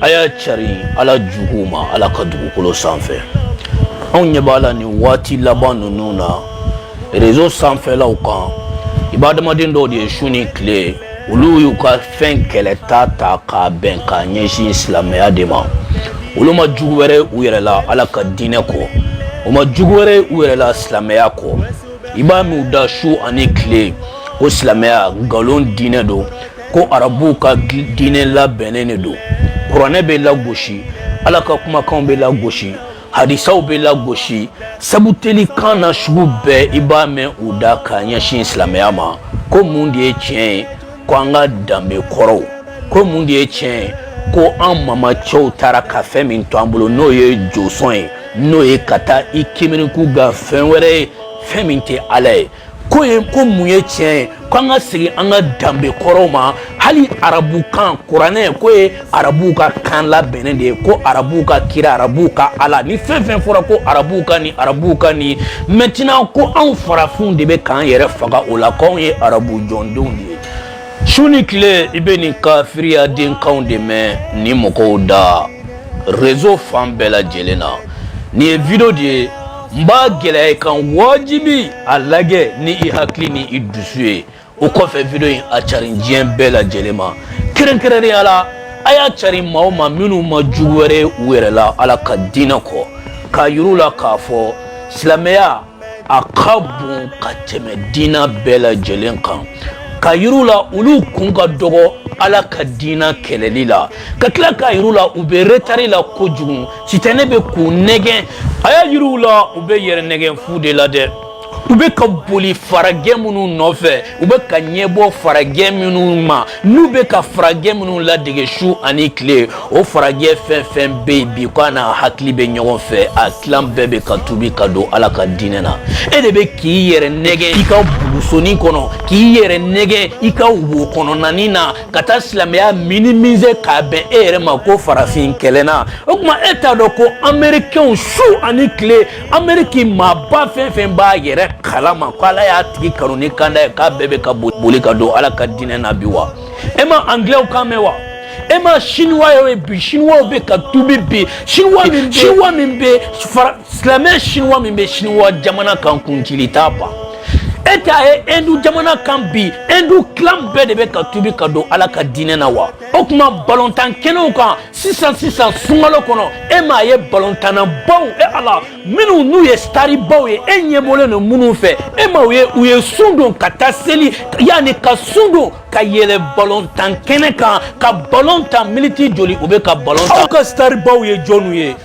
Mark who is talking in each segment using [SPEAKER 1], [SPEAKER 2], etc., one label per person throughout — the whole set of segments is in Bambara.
[SPEAKER 1] a y'a cari ala juguw ma ala ka dugukolo sanfɛ anw ɲɛ b'a la nin waati laban ninnu na rezo sanfɛlaw kan i b'adamaden dɔw de ye su ni tile olu y'u ka fɛn kɛlɛta ta k'a bɛn k'a ɲɛsin silamɛya de ma olu ma jugu wɛrɛ y'u yɛrɛ la ala ka diinɛ kɔ u ma jugu wɛrɛ y'u yɛrɛ la silamɛya kɔ i b'a mɛn u da su ani tile ko silamɛya nkalon diinɛ don ko arabuw ka diinɛ labɛnnen de don kuranɛ bɛ lagosi ala ka kumakanw bɛ lagosi hadisaw bɛ lagosi sabu teli kan na sugu bɛɛ i b'a mɛn u da k'a ɲɛsin silamɛya ma ko mun de ye tiɲɛ ye ko an ka danbe kɔrɔw ko mun de ye tiɲɛ ye ko an mamacɛw taara ka fɛn min to an bolo n'o ye josɔn ye n'o ye ka taa i kimirinku gan fɛn wɛrɛ ye fɛn min tɛ ala ye ko ye ko mun ye tiɲɛ ye k'an ka segin an ka danbe kɔrɔw ma hali arabu kan kuranɛ k'o ye arabuw ka kan labɛnnen de ye ko arabuw ka kira arabuw ka ala ni fɛn fɛn fɔra ko arabuw ka nin arabuw ka nin mɛtinan ko anw farafinw de bɛ k'an yɛrɛ faga o la k'anw ye arabu jɔndenw de ye su ni tile i bɛ nin kafiriya denkanw de mɛn nin mɔgɔw da rezo fan bɛɛ lajɛlen na nin ye video de ye n b'a gɛlɛya i kan wajibi a lajɛ ni i hakili ni i dusu ye o kɔfɛ video in a cari diɲɛ bɛɛ lajɛlen ma kɛrɛnkɛrɛnnenya la a y'a cari maa o maa minnu ma jugu wɛrɛ y'u yɛrɛ la ala ka diinɛ kɔ k'a yir'u la k'a fɔ silamɛya a ka bon ka tɛmɛ diina bɛɛ lajɛlen kan k'a yir'u la olu kun ka dɔgɔ ala ka diina kɛlɛli la ka tila k'a yir'u la u bɛ retari la kojugu sitanɛ bɛ k'u nɛgɛn a y'a yir'u la u bɛ yɛrɛnɛgɛn fu de la dɛ u bɛ ka boli farajɛ minnu nɔfɛ u bɛ ka ɲɛbɔ farajɛ minnu ma n'u bɛ ka farajɛ minnu ladege su ani tile o farajɛ fɛn fɛn bɛ yen bi k'a n'a hakili bɛ ɲɔgɔn fɛ a tilan bɛɛ bɛ ka tubi ka don ala ka diinɛ na e de bɛ k'i yɛrɛ nɛgɛn i ka bulusonin kɔnɔ k'i yɛrɛ nɛgɛn i ka wo kɔnɔnanin na ka taa silamɛya minimize k'a bɛn e yɛrɛ ma ko farafin kelenna o tuma e t'a dɔn ko amerikɛnw su ani tile ameriki maaba fɛn fɛn b'a yɛrɛ kala ma ko ala y'a tigi kanu ni kanda ye k'a bɛɛ bɛ ka boli ka don ala ka diinɛ na bi wa e ma anglɛw kan mɛn wa e ma siniwa ye bi siniwaw bɛ ka tubi bi siniwa min siniwa min bɛ silamɛ siniwa min bɛ siniwa jamana kan kuncili t'a ban e t'a ye ɛndu jamana kan bi ɛndu kilan bɛɛ de bɛ ka tubi ka don ala ka diinɛ na wa o tuma balontan kɛnɛw kan sisan sisan sunkalo kɔnɔ e m'a ye balontanna baw e ala minnu n'u ye stari baw ye e ɲɛbɔlen don minnu fɛ e ma u ye u ye sun don ka taa seli yanni ka sun don ka yɛlɛ balontan kɛnɛ kan ka balon tan miniti joli u bɛ ka balon tan aw ka stari baw ye jɔnw ye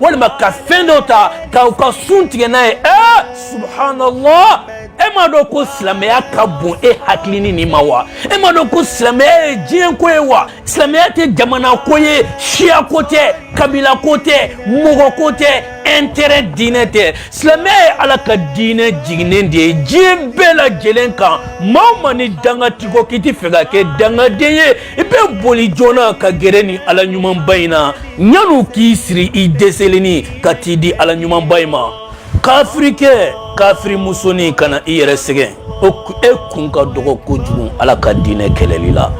[SPEAKER 1] walima ka fɛn dɔ ta ka u ka sun tigɛ n'a ye ɛɛ subhanallah e m'a dɔn ko silamɛya ka bon e hakilini nin ma wa e m'a dɔn ko silamɛya ye diɲɛ ko ye wa silamɛya tɛ jamana ko ye siya ko tɛ kabila ko tɛ mɔgɔ ko tɛ intérêt diinɛ tɛ silamɛya ye ala ka diinɛ jiginnen de ye diɲɛ bɛɛ lajɛlen kan maa o maa ni danga t'i kɔ k'i tɛ fɛ ka kɛ dangaden ye i bɛ boli joona ka gɛrɛ nin ala ɲumanba in na ɲan'u k'i siri i dɛsɛlenni ka t'i di ala ɲumanba in ma kafirikɛ kafiri musonin kana i yɛrɛ sɛgɛn e kun ka dɔgɔ kojugu ala ka diinɛ kɛlɛli la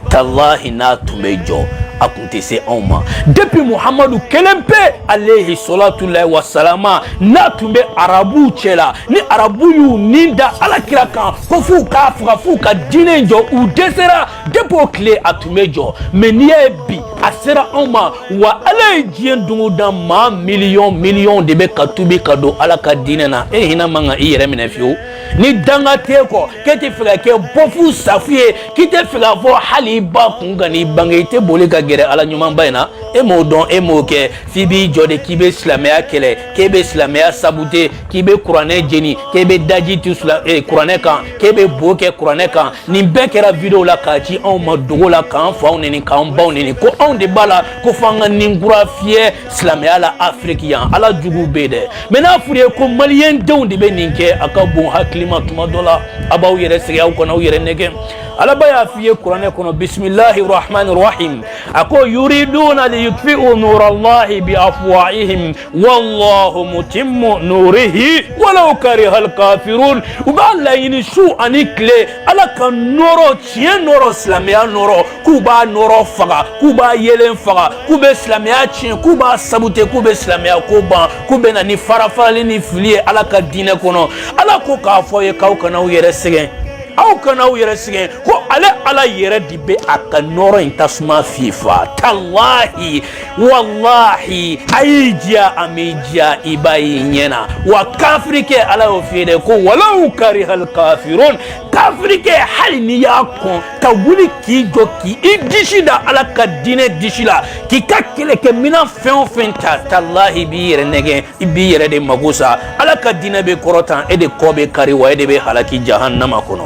[SPEAKER 1] talahi n'a tun bɛ jɔ a kun tɛ se anw ma depi muhamadu kelen pe alehi sɔlatulahi wasalama n'a tun bɛ arabuw cɛ la ni arabu y'u ni da alakira kan ko f'u k'a faga f'u ka diinɛ in jɔ u dɛsɛra depi o tile a tun bɛ jɔ mɛ n'i y'a ye bi a sera anw ma wa ala ye diɲɛ don o don maa miliyɔn miliyɔn de bɛ ka tubi ka don ala ka diinɛ na e hinɛ man kan i yɛrɛ minɛ fiyewu ni danga t'e kɔ k'e tɛ fɛ ka kɛ bɔfu safu ye k'i tɛ fɛ k'a fɔ hali i ba kun kan'i bange i tɛ boli ka gɛrɛ ala ɲumanba in na e m'o dɔn e m'o kɛ f'i b'i jɔ de k'i bɛ silamɛya kɛlɛ k'e bɛ silamɛya sabute k'i bɛ kuranɛ jeni k'e bɛ daji tu eh, kuranɛ kan k'e bɛ bo kɛ kuranɛ kan nin bɛɛ kɛra video la k'a ci anw ma dogo la k'an faw neni k'an baw neni ko anw de b'a la ko f'an ka ninkura fiyɛ silamɛya la afiriki yan ala juguw bɛ yen dɛ mɛ n'a fɔr'i ye ko maliyɛn denw de bɛ nin kɛ a ka bon hakili ma tuma dɔ la a b'aw yɛrɛ sɛgɛn aw kana aw yɛrɛ nɛgɛn alaba y'a f'i ye kuranɛ kɔnɔ bisimilahi rahmani rahim a ko yuriduna liyutfiu nurallahi biafwaihim wallahu mutimmu nurihi walau kariha lkafirun u b'a laɲini su ani tile ala ka nɔrɔ tiɲɛ nɔrɔ silamɛya nɔrɔ k'u b'a nɔrɔ faga k'u b'a yelen faga k'u bɛ silamɛya tiɲɛ k'u b'a sabute k'u bɛ silamɛya ko ban k'u bɛ na ni farafarali ni fili ye ala ka diinɛ kɔnɔ ala ko k'a f'aw ye k'aw kana aw yɛrɛ sɛgɛn aw kana aw yɛrɛ sɛgɛn ko ale ala yɛrɛ de bɛ a ka nɔrɔ in tasuma fifa talahi walahi a y'i diya a m'i diya i b'a y'i ɲɛ na wa kafirikɛ ala y'o f'i ye dɛ ko walaw karihal kafirun kafirikɛ hali n'i y'a kɔn ka wuli k'i jɔ k'i disi da ala ka diinɛ disi la k'i ka kɛlɛkɛminɛn fɛn o fɛn ta talahi i b'i yɛrɛ nɛgɛn i b'i yɛrɛ de mago sa ala ka diinɛ bɛ kɔrɔtan e de kɔ bɛ kari wa e de bɛ halaki jahannama kɔnɔ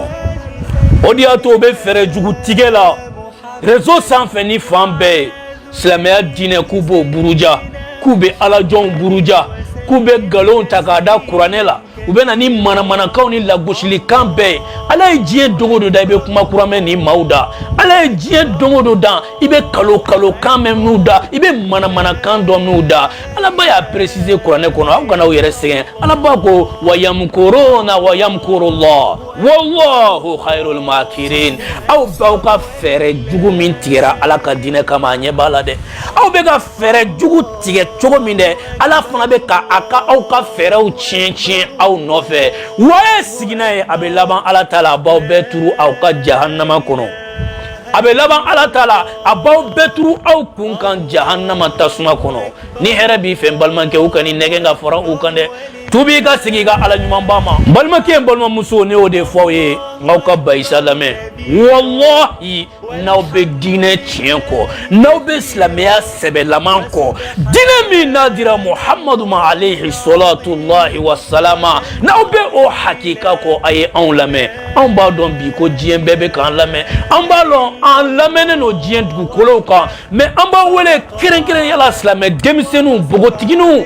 [SPEAKER 1] o de y'a to o bɛ fɛɛrɛ jugu tigɛ la réseau sanfɛ ni fan bɛɛ ye silamɛya diinɛ k'u b'o buruja k'u bɛ alajɔnw buruja k'u bɛ nkalonw ta k'a da kuranɛ la u bɛ na ni manamanakanw ni lagosilikan bɛɛ ye ala ye diɲɛ don o don da i bɛ kuma kura mɛn ni maaw da ala ye diɲɛ don o don da i bɛ kalo kalo kan mɛn n'u da i bɛ manamanakan dɔn n'u da alaba y'a préciser kuranɛ kɔnɔ aw kana aw yɛrɛ sɛgɛn alaba ko wa yamkuruna wa yamkurullah wallahu khairul makirin aw b'aw ka fɛɛrɛ jugu min tigɛra ala ka diinɛ kama a ɲɛ b'a la dɛ aw bɛ ka fɛɛrɛ jugu tigɛ cogo min dɛ ala fana bɛ ka a ka aw ka fɛɛrɛw tiɲɛ tiɲɛ aw nɔfɛ wa ye sigina ye a bɛ laban ala ta la a b'aw bɛɛ turu aw ka jahannama kɔnɔ a bɛ laban ala ta la a b'aw bɛɛ turu aw kun kan jahannama tasuma kɔnɔ ni hɛrɛ b'i fɛ n balimakɛ u kan'i nɛgɛn ka fara u kan dɛ tubi i ka segin i ka ala ɲumanba ma n balimakɛ n balimamuso ne y'o de fɔ aw ye n k'aw ka bayisa lamɛn walahi n'aw bɛ diinɛ tiɲɛ kɔ n'aw bɛ silamɛya sɛbɛlama kɔ diinɛ min n'a dira muhamadu ma alayhi salatulahi wa salama n'aw bɛ o hakika kɔ a ye anw lamɛn anw b'a dɔn bi ko diɲɛ bɛɛ bɛ k'an lamɛn an b'a dɔn an lamɛnnen don diɲɛ dugukolow kan mais an b'aw wele kɛrɛnkɛrɛnya la silamɛ denmisɛnninw npogotigininw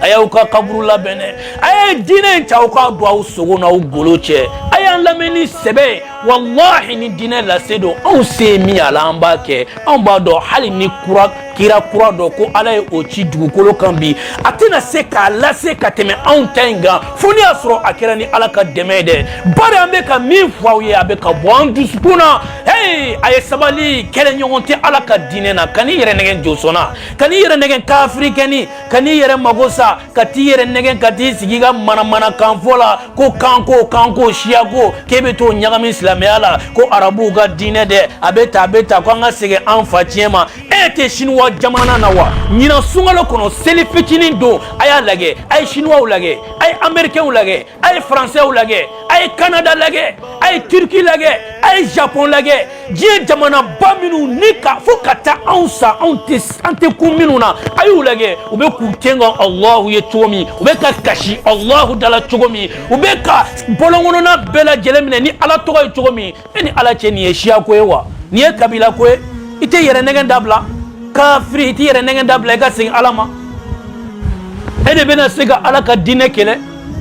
[SPEAKER 1] a y'aw ka kaburu labɛn dɛ a ye diinɛ in ta aw k'a don aw sogo n'aw golo cɛ a y'an lamɛn ni sɛbɛ ye walahi ni diinɛ lase don anw se ye min ye a la an b'a kɛ anw b'a dɔn hali ni kura kira kura dɔ ko ala ye o ci dugukolo kan bi a tɛna se k'a lase ka tɛmɛ anw ta in kan fo n'i y'a sɔrɔ a kɛra ni ala ka dɛmɛ ye dɛ bari an bɛ ka min fɔ aw ye a bɛ ka bɔ an dusukun na hey a ye sabali kɛlɛ ɲɔgɔn tɛ ala ka diinɛ na kan'i yɛrɛ nɛgɛn josɔnna kan'i yɛrɛ nɛgɛn kafirikɛnin kan'i yɛrɛ mago sa ka t'i yɛrɛ nɛgɛn ka t'i sigi ka manamanakan fɔ la ko kanko kanko siyako k'e bɛ t'o ɲagami silamɛya la ko arabuw ka diinɛ dɛ a bɛ ta a bɛ ta ko an ka segin an fa tiɲɛ ma e tɛ sinuwa jamana na wa ɲinan sunkalo kɔnɔ seli fitinin don a y'a lajɛ a ye sinuwaw lajɛ a ye amerikɛnw lajɛ a ye faransɛw lajɛ a ye kanada lajɛ a ye turki lajɛ a ye japɔn lajɛ diɲɛ jamanaba minnu ni ka fo ka taa anw sa anw tɛ an tɛ kun minnu na a y'u lajɛ u bɛ k'u ten kan alahu ye cogo min u bɛ ka kasi alahu dala cogo min u bɛ ka bɔlɔnkɔnɔna bɛɛ lajɛlen minɛ ni ala tɔgɔ ye cogo min e ni ala cɛ nin ye siya ko ye wa nin ye kabila ko ye i tɛ yɛrɛ nɛgɛn dabila kafiri i tɛ yɛrɛ nɛgɛn dabila i ka segin ala ma e de bɛna se ka ala ka diinɛ kɛlɛ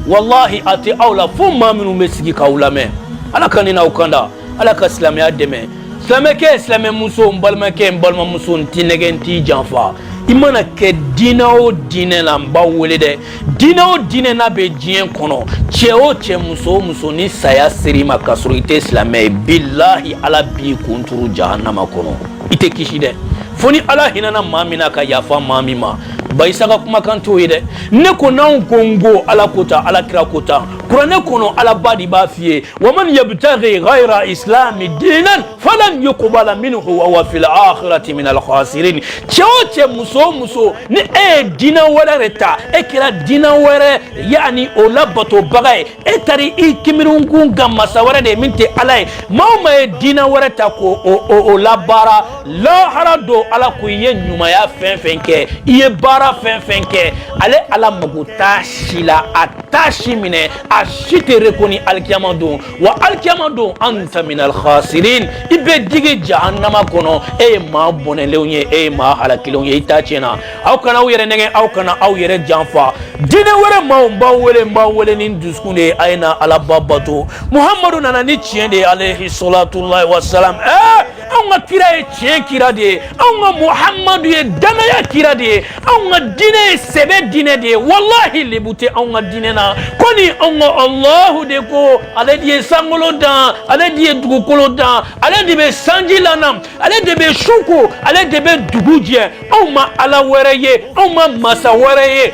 [SPEAKER 1] walahi a tɛ aw la fo maa minnu bɛ sigi k'aw lamɛn ala ka ne n'aw kanda ala ka silamɛya dɛmɛ silamɛkɛ silamɛmuso n balimakɛ n balimamuso n t'i nɛgɛn n t'i janfa i mana kɛ diinɛ o diinɛ la n b'aw wele dɛ diinɛ o diinɛ n'a bɛ diɲɛ kɔnɔ cɛ o cɛ muso o muso ni saya ser'i ma k'a sɔrɔ i tɛ silamɛ ye bilahi ala b'i kun turu jahanama kɔnɔ i tɛ kisi dɛ fo ni ala hinɛna maa min na ka yafa maa min ma barisa n ka kumakan t'o ye dɛ ne ko n'anw ko n ko ala ko ta ala kira ko ta kuranɛ kɔnɔ alaba de b'a f'i ye waman yabitagi ghayra islami diinan falan yukubala minhu wa huwa fil akhirati min al khasirin cɛ o cɛ muso o muso ni e ye diinɛ wɛrɛ de ta e kɛra diinɛ wɛrɛ yaani o labatobaga ye e taara i kunbirikun gan masa wɛrɛ de ye min tɛ ala ye maa o maa ye diinɛ wɛrɛ ta k'o o labaara lahara don ala ko i ye ɲumanya fɛn fɛn kɛ i ye baara fɛn fɛn kɛ ale ala mago t'a si la a t'a si minɛ a si tɛ rekoni alikiyama don wa alikiyama don anta min al khasirin i bɛ digi jahannama kɔnɔ e ye maa bɔnɛlenw ye e ye maa halakilenw ye i ta tiɲɛna aw kana aw yɛrɛ nɛgɛn aw kana aw yɛrɛ janfa diinɛ wɛrɛ maaw n b'aw wele n b'aw wele ni dusukun de ye a ye na alaba bato muhamadu nana ni tiɲɛ de ye alehi sɔlatulahi wasalam ɛɛ anw ka kira ye tiɲɛ kira de ye anw ka muhamadu ye danaya kira de ye anw ka diinɛ ye sɛbɛ diinɛ de ye walahi lebu tɛ anw ka diinɛ na kɔni anw ka alahu de ko ale de ye sankolo dan ale de ye dugukolo dan ale de bɛ sanji lana ale de bɛ su ko ale de bɛ dugu jɛ anw ma ala wɛrɛ ye anw ma masa wɛrɛ ye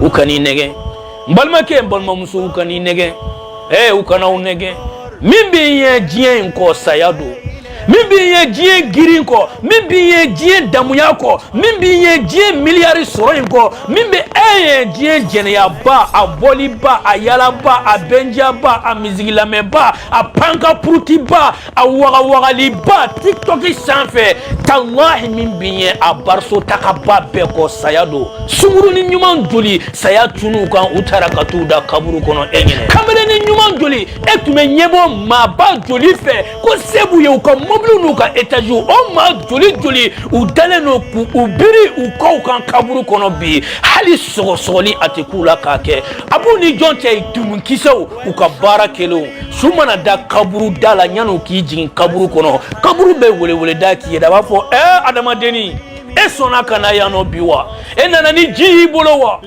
[SPEAKER 1] u kan'i nɛgɛn n balimakɛ n balimamuso u kan'i nɛgɛn ee u kana aw nɛgɛn min b'i ye diɲɛ in kɔ saya don min b'i ye diɲɛ girin kɔ min b'i ye diɲɛ damuya kɔ min b'i ye diɲɛ miliyari sɔrɔ in kɔ min bɛ e ye diɲɛ jɛnɛyaba a bɔliba a yalaba a bɛnjaba a mizikilamɛnba a pan ka purutiba a wagawagaliba tiktoki sanfɛ talahi min b'i ye a bariso tagaba bɛɛ kɔ saya don sungurunin ɲuman joli saya tunn'u kan u taara ka t'u da kaburu kɔnɔ e ɲɛ na kamelennin ɲuman joli e tun bɛ ɲɛbɔ maaba joli fɛ ko se b'u ye u ka mobiliw n'u ka etaziw o maa joli joli u dalen don k'u u biri u kɔw kan kaburu kɔnɔ bi hali sɔgɔsɔgɔli a tɛ k'u la k'a kɛ a b'u ni jɔn cɛ tumukisɛw u ka baara kɛlenw su mana da kaburu da la yan'u k'i jigin kaburu kɔnɔ kaburu bɛ weleweleda k'i ye da b'a fɔ ɛ adamadenni e sɔnna ka na yan nɔ bi wa e nana ni ji y'i bolo wa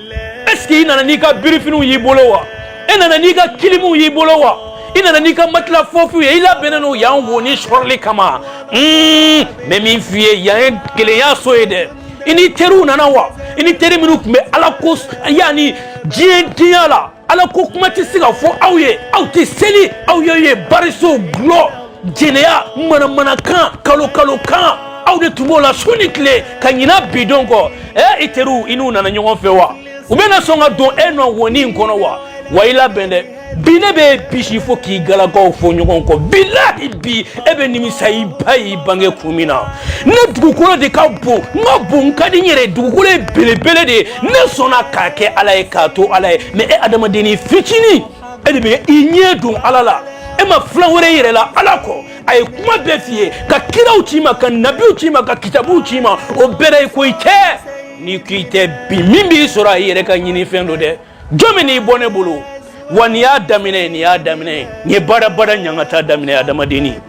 [SPEAKER 1] est-ce que i nana n'i ka birifiniw y'i bolo wa e nana n'i ka kilimuw y'i bolo wa i nana n'i ka matila fɔfiw ye i labɛnnen don yan wo ni sɔrɔli kama n bɛ min f'i ye yan ye kelenya so ye dɛ i ni teriw nana wa i ni teri minnu tun bɛ ala ko yaani diɲɛ diya la ala ko kuma tɛ se ka fɔ aw ye aw tɛ seli aw ye ye bariso dɔlɔ jɛnɛya manamanakan kalokalokan aw de tun b'o la su ni tile ka ɲina bi don kɔ ɛ i teriw i n'u nana ɲɔgɔn fɛ wa u bɛna sɔn ka don e nɔ wonin in kɔnɔ wa wa i labɛn dɛ bi ne b'e bisi fo k'i galakaw fɔ ɲɔgɔn kɔ bilahi bi e bɛ nimisa i ba y'i bange kun min na ne dugukolo de ka bon n ka bon n ka di n yɛrɛ dugukolo ye belebele de ye ne sɔnna k'a kɛ ala ye k'a to ala ye mɛ e adamadennin fitinin e de bɛ i ɲɛ don ala la e ma filan wɛrɛ yɛrɛ la ala kɔ a ye kuma bɛɛ f'i ye ka kiraw c'i ma ka nabiw c'i ma ka kitabuw c'i ma o bɛɛ la i ko i tɛ n'i ko i tɛ bi min b'i sɔrɔ a i yɛrɛ ka ɲinifɛn don dɛ jɔn bɛn'i bɔ ne bolo wa nin y'a daminɛ ye nin y'a daminɛ ye nin ye badaa badaa ɲangata daminɛ adamadennin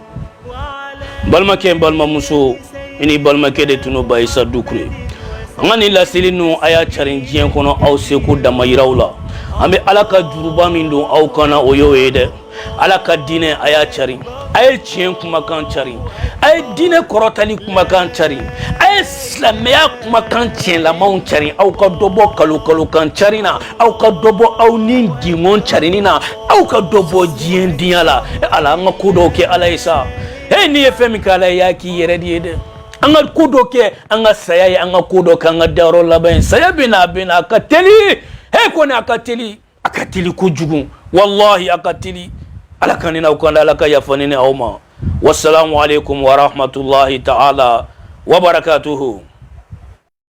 [SPEAKER 1] balimakɛ balimamuso i ni balimakɛ de tun don ba isa dukure an ka nin laseli ninnu a y'a carin diɲɛ kɔnɔ aw seko damayiraw la an bɛ ala ka juruba min don aw kana o y'o ye dɛ ala ka diinɛ a y'a carin a ye tiɲɛ kumakan carin a ye diinɛ kɔrɔtali kumakan carin a ye silamɛya kumakan tiɲɛlamaw carin aw ka dɔ bɔ kalokalokan carin na aw ka dɔ bɔ aw ni dungɔ carinni na aw ka dɔ bɔ diɲɛ diya la ala an ka ko dɔw kɛ ala ye sa e n'i ye fɛn min kɛ ala ye y'a k'i yɛrɛ de ye dɛ an ka ko dɔ kɛ an ka saya ye an ka ko dɔ kɛ an ka dayɔrɔ laban ye saya bɛ na a bɛ na a ka teli e kɔni a ka teli a ka teli kojugu walahi a ka teli ala ka ne n'aw kanda ala ka yafa ne ni aw ma wasalamu aleykum wa rahmatulahi ta'ala wa barakatuhu.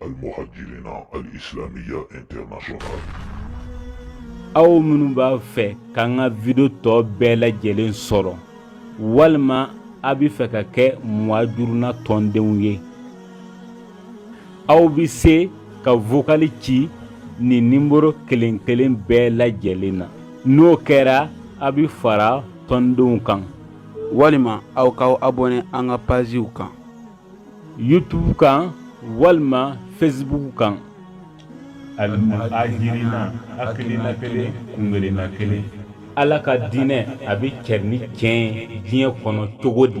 [SPEAKER 2] almuhajirina al islamiya international
[SPEAKER 3] aw minnu b'a fɛ k'an ka video tɔ bɛɛ lajɛlen sɔrɔ walima a bɛ fɛ ka kɛ muhajiruna tɔndenw ye aw bɛ se ka vokali ci nin nimoro kelen kelen bɛɛ lajɛlen na n'o kɛra a bɛ fara tɔndenw kan walima
[SPEAKER 4] aw k'aw abonɛ an ka paziw kan
[SPEAKER 3] Youtube kan walima Facebook kan. Almuhajirina hakilina kelen kuntilenna kelen Ala ka diinɛ a bɛ cɛrin ni tiɲɛ ye diɲɛ kɔnɔ cogo di